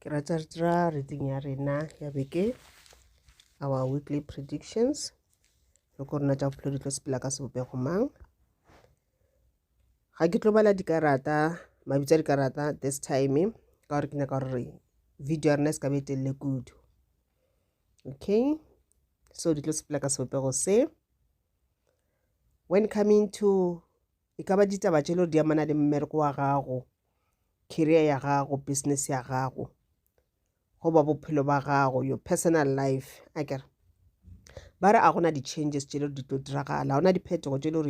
ke rata re dira reading ya rena ya beke our weekly predictions le ko rena tša bophelo di tlo sepela ka sebopego mang ga ke tlo bala dikarata mabitsa dikarata this time ka gore ke nyaka gore video ya rena e se ka be telele kudu okay so di tlo sepela ka sebopego se when coming to E ka ba ditaba tše lego di amana le mmereko wa gago, career ya gago, business ya gago, goba bophelo ba gago, your personal life. A kere ba re a gona di-changes tše lego di tlo diragala, gona diphetogo tše lego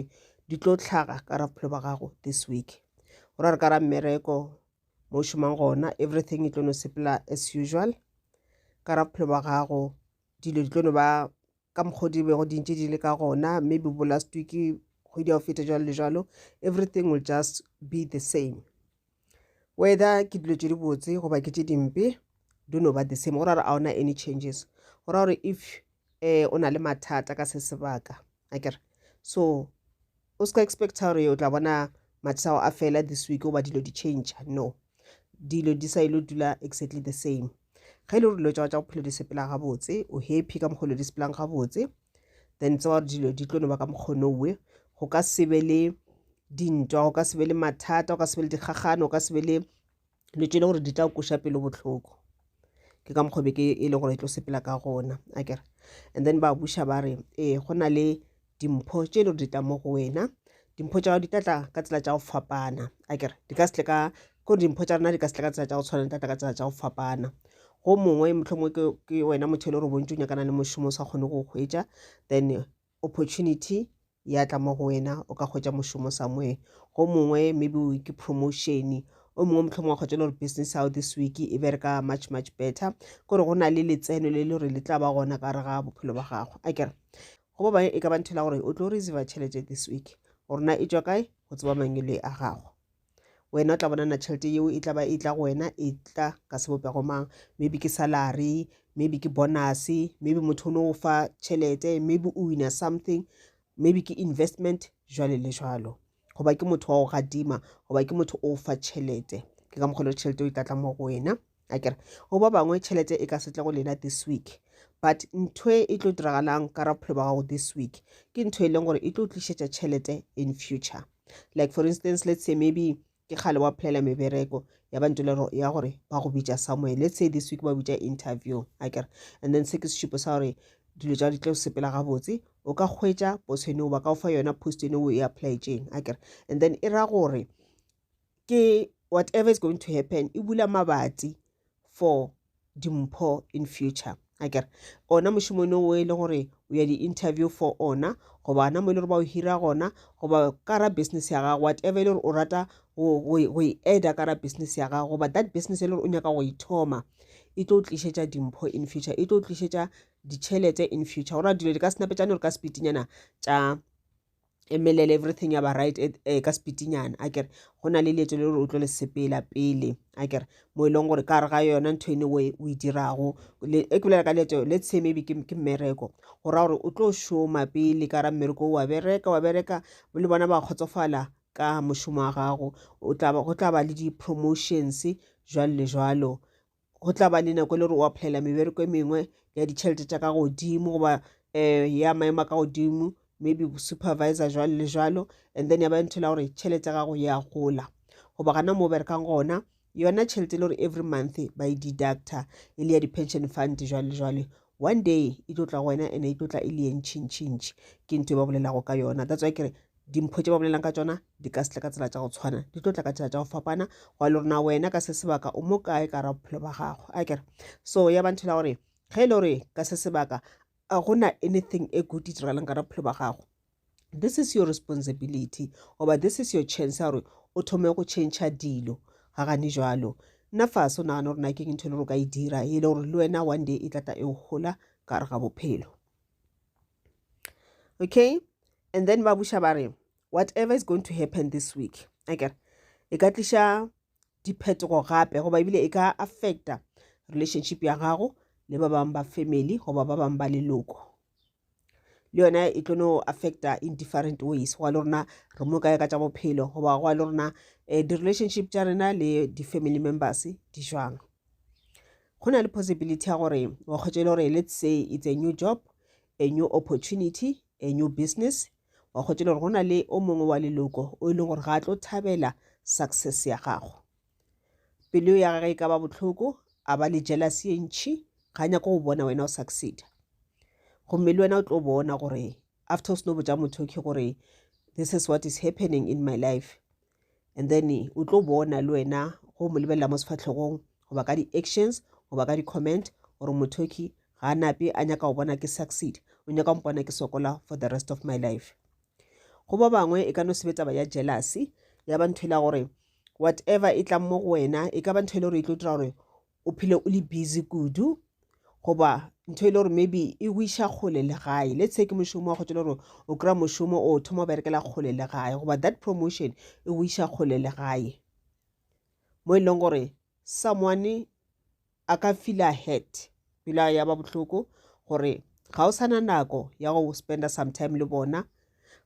di tlo tlhaga ka ra bophelo ba gago this week. Go ra re ka ra mmereko mo šomang gona everything e tlo no sepela as usual ka ra bophelo ba gago dilo di tlo no ba ka mokgwa di bego di ntše di le ka gona maybe bo last week kgwedi ya go feta jalo le jalo everything will just be the same whether ke dilo tše dibotse goba ke tše dimpe do no ba the same go ra gore a ona any changes go ra gore if um o na le mathata ka se sebaka a kere so O ska expecta gore o tla bona mathata ao a fela this week goba dilo di change no dilo di sa ilo dula exactly the same ge e le gore dilo tsa tsa bophelo di sepela gabotse o happy ka mokgolo di sepelang gabotse then tsa gore dilo di tlo no ba ka mokgono owe go ka sebe le dintwa go ka sebe le mathata go ka sebe le dikgagano go ka sebe le dilo tše e le gore di tla koša pelo bohloko ke ka mokgwa be ke e le gore e tlo sepela ka gona a kere and then ba buša ba re ee go na le dimpho tše e le gore di tla mo go wena dimpho tša gago di tlatla ka tsela tša go fapana a kere di ka se ka ko dimpho tša rena di ka se ka tsela tša go tshwana di tlatla ka tsela tša go fapana go mongwe motlho mongwe ke wena motho e le gore bontsi o nyakana le mošomo o sa kgone go kgwetsa then opportunity ya tla mo go wena o ka hwetša mošomo somewhere go mongwe maybe o ke promotion o mongwe mohlomong wa kgotsa le gore business how this week e bereka much much better kore go na le letseno le le gore le tla ba gona ka re ga bophelo ba gago a kere go ba bangwe e ka ba nthela gore o tlo receive tšhelete this week gore na e tswa kae go tseba mangwele a gago wena o tla bonana tšhelete yeo e tla ba e tla go wena e tla ka sebopego mang maybe ke salary maybe ke bonus maybe motho o no o fa tšhelete maybe o wina something maybe ke investment jwale le jwalo goba ke motho wa go gadima goba ke motho o fa tšhelete ke ka mokgwa le tšhelete o e tla tla mo go wena a kere go ba bangwe tšhelete e ka se tle go lena this week but ntho e tlo diragalang ka ra bophelo ba gago this week ke ntho e leng gore e tlo tlišetša tšhelete in future like for instance let's say maybe ke kgale wa phelela mebereko ya bantse le ya gore ba go bitša somewhere let's say this week ba bitša interview a kere and then se ke sešupo sa gore dilo tša di tlo sepela gabotse o ka hwetša posone o ba ka o fa yona post ene o e applyetseng a kere and then e ra gore ke whatever is going to happen e bula mabatsi for dimpho in future a kere ona mošomong o e le gore o ya di-interview for ona goba ona mo e le gore ba o hira gona goba kara business ya gago whatever e le gore o rata go e eda kara business ya gago goba that business e le gore o nyaka go e thoma e tlo tlišetša dimpho in future e tlo tlišetša ditšhelete in future gore dilo di ka senapetšane gore ka sepitinyana tša emelele everything ya ba right eh, eh, ka sepitinyana a kere go na le leeto le gore o tlo le sepela pele a kere mo e leng gore ka re ga yona ntho ene way o e dirago e ke bolela ka leeto let's say maybe ke mmereko go raya gore o tlo šoma pele ka ra mmereko wa bereka wa bereka le bona ba kgotsofala ka mošomo wa gago go tla ba le di-promotions jwalo le jwalo go tla ba le nako e le gore o applyela mebereko e mengwe ya ditšhelete tša ka godimo goba um ya maemo a ka godimo maybe supervisor jalo le jalo and then ya ba ntho la gore tšhelete ya gago ya gola goba gana mo berekang gona yona tšhelete e le gore every month ba e deducta e le ya di-pension fund jwale le jwale one day e tlo tla go wena and e tlo tla e le ye ntšhintšhintšhi ke ntho e ba bolelago ka yona that's why kere dimpho tše ba bolelang ka tsona di ka setla ka tsela tša go tshwana di tlo tla ka tsela tša go fapana go le rona wena ka se sebaka o mo kae ka ra bophelo ba gago a kere so ya ba nthela gore ge e le gore ka se sebaka a gona anything e good e diragalang ka ra bophelo ba gago this is your responsibility oba this is your chance ya gore o thome go change dilo ga gane jalo nna fase o nagana gore na ke ntho e le gore o ka e dira e le gore le wena one day e tlatla e o gola ka gare ga bophelo okay and then ba buša ba re whatever is going to happen this week akere e ka tliša diphetogo gape goba ebile e ka affecta relationship ya gago le ba bangwe ba family goba ba bangwe ba leloko le yone e tlo no affecta in different ways go le rona re mo kae ka tša bophelo goba go le rona um di-relationship tša rena le di-family members di jwang go na le possibility ya gore wa kgwetsa e le gore let's say it's a new job a new opportunity a new business wa kgwetsa e le gore go na le o mongwe wa leloko o e leng gore ga a tlo thabela success ya gago pelo ya gage e ka ba botlhoko a ba le jealousy e ntšhi ga nyako go bona wena o succeeda gomme le wena o tlo bona gore after o seno botsa motho ke gore this is what is happening in my life and then o tlo bona le wena go mo lebelela mo sefatlhegong goba ka di-actions goba ka di-comment gore mothoki ga a nape a nyaka go bona ke succeed o nyaka go mpona ke sokola for the rest of my life go ba bangwe e ka no sebetsa ba ya jealousy ya ba ntho e la gore whatever e tlang mo go wena e ka ba ntho e le gore e tlo dira gore o phele o le busy kudu goba ntho e le gore maybe e go iša kgole le gae let's say ke mošomo wa kgotse le gore o kry-a mošomo o thoma o berekela kgole le gae goba that promotion e go iša kgole le gae mo e leng gore someone a ka feela head pela ya ba bohloko gore ga o sana nako ya go spenda sometime le bona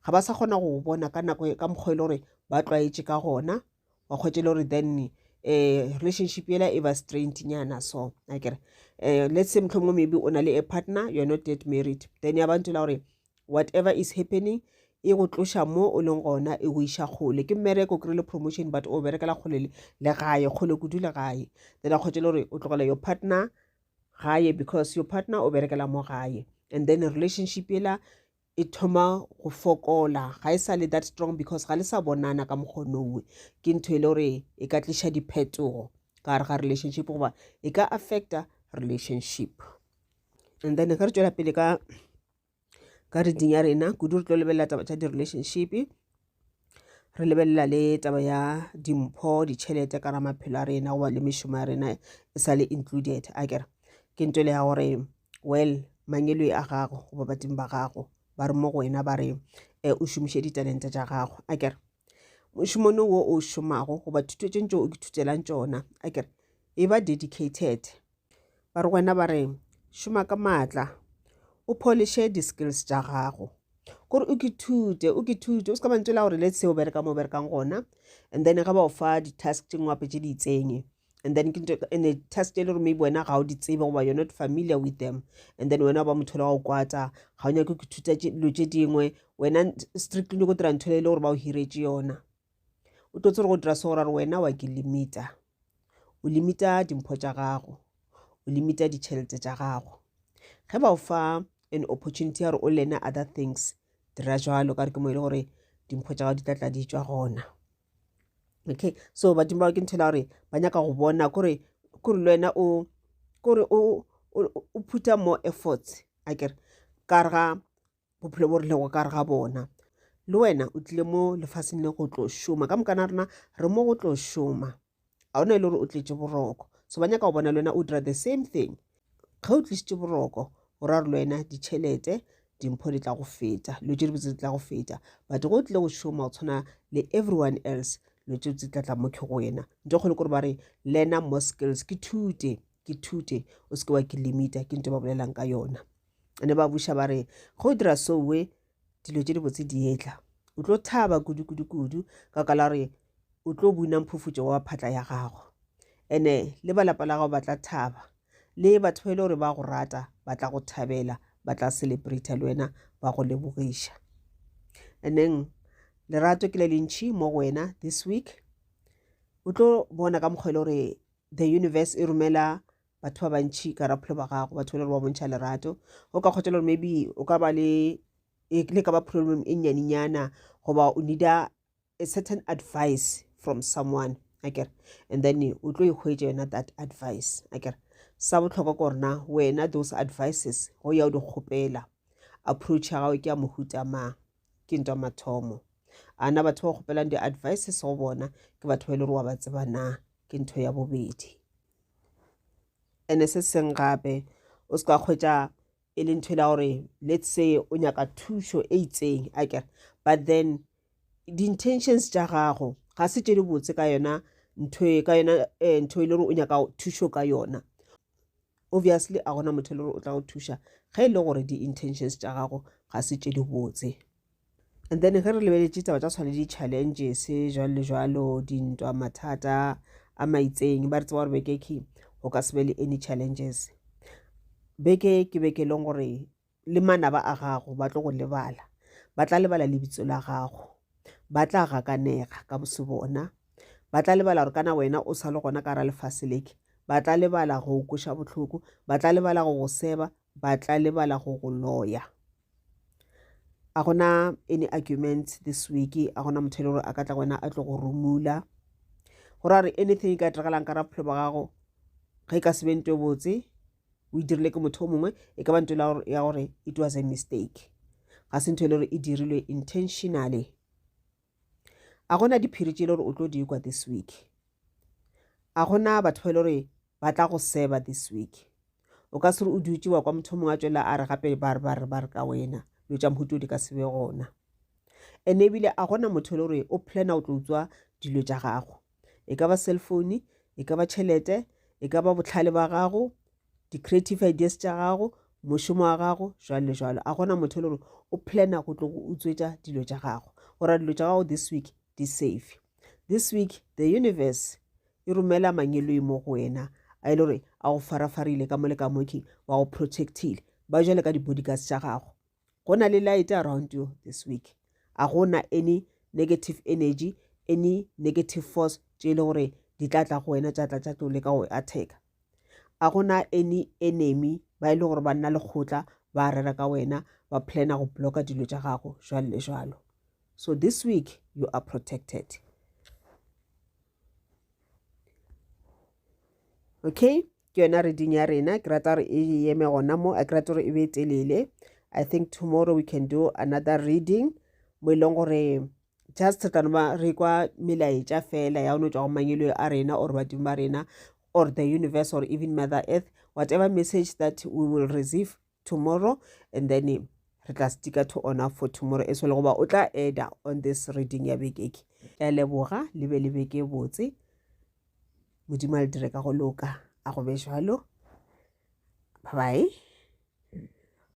ga ba sa kgona go bona ka nako ka mokgwa e le gore ba tlwaetše ka gona wa kgwetše le gore then um relationship yela e ba straint nyana so a kere um let's say mohlomongwe maybe o na le a partner you're not yet married then ya bantho la gore whatever is happening e go tloša mo o leng gona e go iša kgole ke mmereko kry le promotion but o berekela kgole le gae kgole kudu le gae then a kgwetše le gore o tlogela your partner gae because your partner o berekela mo gae and then relationship ela e thoma go fokola ga e sa le that strong because ga le sa bonana ka mokgonongwe ke ntho e le gore e ka tliša diphetogo ka gare ga relationship goba e ka affecta relationship and then ge re tswela pele ka ka reding ya rena kudu re tlo lebelela taba tša di-relationship re lebelela le taba ya dimpho ditšhelete ka ramaphelo a rena goba le mešomo ya rena e sa le included a kere ke nto le ya gore well mangelo a gago goba badimo ba gago ba re mo go wena ba re um o šomiše ditalente tša gago a kere mošomono wo o šomago goba thuto tše ntse o ithutelang tšona a kere e ba dedicated Ba re wena ba re šoma ka maatla o poliše di-skills tša gago kore o kithute o kithute o se ka mantse la gore le seo bereka mo berekang gona and then ge ba o fa di-task tše ngwape tše di itsenye and then and the test e le gore maybe wena ga o di tsebe goba you're not familiar with them and then wena ba motho le wa go kwata ga o nyake go ithuta dilo tše dingwe wena strictly go dira ntho e le gore ba o hiretše yona o tlo tsere go dira se gore wena wa ke limita o limita dimpho tša gago o limita ditšhelete tša gago ge ba o fa an opportunity ya gore o lene other things dira jalo ka re ke mo e le gore dimpho tša gago di tla tla di tswa gona okay so badimo ba ke nthela gore ba nyaka go bona kore kore le wena o kore o o phutha more efforts a kere ka re ga bophelo bo re lego ka re ga bona le wena o tlile mo lefaseng le go tlo šoma ka mokana rena re mo go tlo šoma ga ona e le gore o tletše boroko so ba nyaka go bona le wena o dira the same thing ge o tlisitše boroko o ra re le wena ditšhelete dimpho di tla go feta lo tše dibotse di tla go feta but go o tlile go šoma go tshwana le everyone else lo tše tse tlatla mo ke go wena nto kgolo kore ba re lena mo skills ke thute ke thute o seke wa ke limita ke nto ba bolelang ka yona ne ba buša ba re ge o dira sowe dilo tše dibotse di etla o tlo thaba kudu-kudu-kudu ka kala gore o tlo buna mphufutšo wa phatla ya gago ene le ba lapa la gago ba tla thaba le batho ba e le gore ba go rata ba tla go thabela ba tla celebrata le wena ba go lebogiša aneng lerato ke le lentšhi mo go wena this week o tlo bona ka mokgwa e le gore the universe e romela batho ba bantšhi ka rapholo ba gago batho le gore ba bontšha lerato go ka kgotsa gore maybe o ka ba le e le ka ba problem e nyaninyana goba o needa a certain advice from someone akere and then o tlo ikgwetsa yona that advice akere sa botlhokwa ko rena wena those advices go ya o di kgopela approach ya gago ke ya mohuta mang ke ntwa mathomo a na batho ba kgopelang di-advices go bona ke batho ba e le gore wa ba tseba na ke ntho ya bobedi ene se seng gape o se ka kgwetsa e le ntho e la gore let's say o nyaka thušo e itseng a kere but then di-intentions tša gago ga se tše di botse ka yona ntho e ka yona eh, ntho e le gore o nyaka thušo ka yona obviously a gona motho e le gore o tla go thuša ge e le gore di-intentions tša gago ga se tše di botse and then ge re lebeletše taba tša tshwane di-challenges jalo le jalo dintwa mathata a maitseng ba re tseba gore bekeke go ka se be le any challenges beke ke beke e leng gore le manaba a gago ba tlo go lebala ba tla lebala lebitso la gago ba tla gakanega ka bose bona ba tla lebala gore kana wena o sa le gona ka ra lefase leke ba tla lebala go kweša bohloko ba tla lebala go go seba ba tla lebala go go loya a gona any argument this week a gona motho e le gore a ka tla wena a tlo go rumula go ra gore anything e ka diregalang ka ra bophelo ba gago ge e ka se beng to botse o e dirile ke motho o mongwe e ka ba nto ya gore it was a mistake ga se ntho e le gore e dirilwe intentionally a gona diphiri tše e le gore o tlo dikwa this week a gona batho ba e le gore ba tla go seba this week o ka se re o dutse wa kwa motho mongwe a tswelela a re gape ba re ba re ba re ka wena dilo tša mohuto di ka se be gona ene ebile a gona motho e le gore o plana o tlo utswa dilo tša gago e ka ba cellphone e ka ba tšhelete e ka ba botlhale ba gago di-creative ideas tša gago mošomo wa gago jwalo le jwalo a gona motho e le gore o plana go tlo go utswetša dilo tša gago gore dilo tša gago this week di safe this week the universe e romela mangeloi mo go wena a e le gore a go farafarile ka mo le ka moking ba go protectile ba jale ka di-bodyguards tša gago go na le light around you this week a go na any negative energy any negative force tše e le gore di tla tla go wena tša tla tša tlo leka go attacka a go na any enemy ba e le gore ba nna lekgotla ba rera ka wena ba plana go blocka dilo tša gago jwalo le jwalo so this week you are protected okay ke yona reading ya rena ke rata gore e yeme gona mo a ke rate gore e be telele i think tomorrow we can do another reading mo e leng gore just re tano ba re kwa melaetša fela ya ono tswa go mangelo a rena or badimo ba rena or the universe or even mother earth whatever message that we will receive tomorrow and then re tla stika to ona for tomorrow eso le goba o tla eda on this reading ya bekeke ya leboga le be le beke botse modimo a le dire ka go loka a go be jalo bye bye